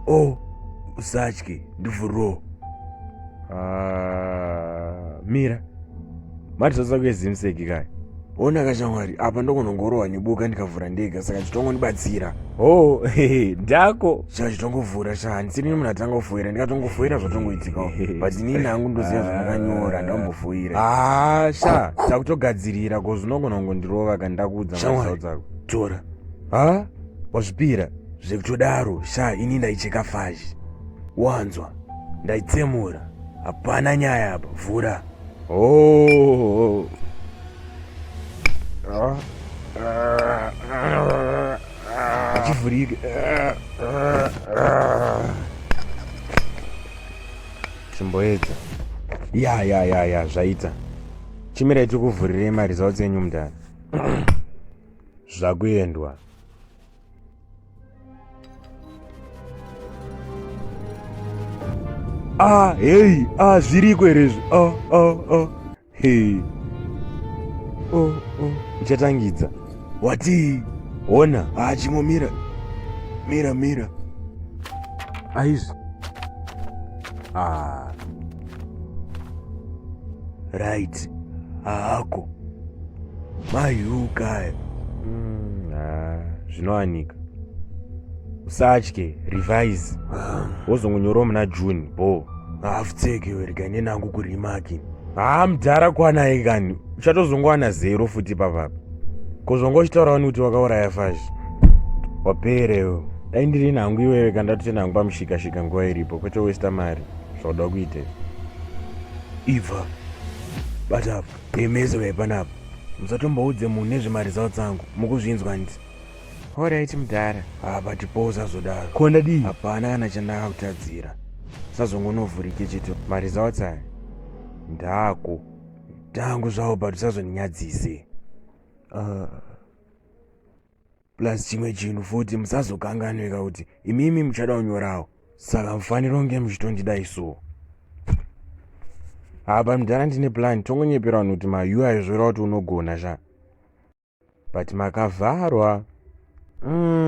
Oh, usatye ndivhuroo. Mira, mati zvadza kuezimseki kai ona kashamwari apa ndokunongorohwa neboka ndikavhura ndega saka chitongondibatsira o oh, ndako saka chitongovhura sha handisiri nemunhu atanga kufoira ndikatongofoira zvatongoitikawo but inini hangu ndoziva zvamakanyora ndambofoira haa ah, sha takutogadzirira ko zvinongonongondirova kandakuudza maau dzako tora ha wazvipira zvekutodaro sha ini ndaicheka fashi wanzwa ndaitsemura hapana nyaya apa vhura Oh. Achivhurika. Chimboedza. Ya ya ya ya zvaita. Chimira ichikuvhurirei maresults enyu mudhara. Zvakuendwa. Ah, hey, ah, zviriko here izvi? Ah, ah, ah. Hey. Oh, oh. Uchatangidza. Wati? Ona, ah, chimo mira. Mira, mira. Aizvi. Ah, right haako mayuka mm, ah, zvinowanika usatye revise ah. wozongonyorawo muna june bo haafutseke werega nenangu kurimaki haa ah, mdhara kwanaye kani uchatozongowana zero futi papapa kozvonga uchitaura wani kuti wakauraya fashi waperewo dai ndiri nhangu iwewe kandatotenhangu pamushikashika nguva iripo kwete westa mari Zvauda kuita ibva bata apa nemese vaipa panapa musatomboudze munhu nezvemari zao dzangu mukuzvinzwa hanti horaiti mudhara apa tipowo sazodaro ko ndadii hapana kana chandakakutadzira sazongonovhurike cheto mari zao tsaya ndako tangu zvawo but usazondinyadzise uh. plus chimwe chinhu futi musazokanganwika kuti imimi muchada kunyorawo saka mufaniro kunge muchitondidai so apa mudhara ndine plan tongonyepera vanhu kuti mayu aizvora kuti unogona sha but makavharwa mm.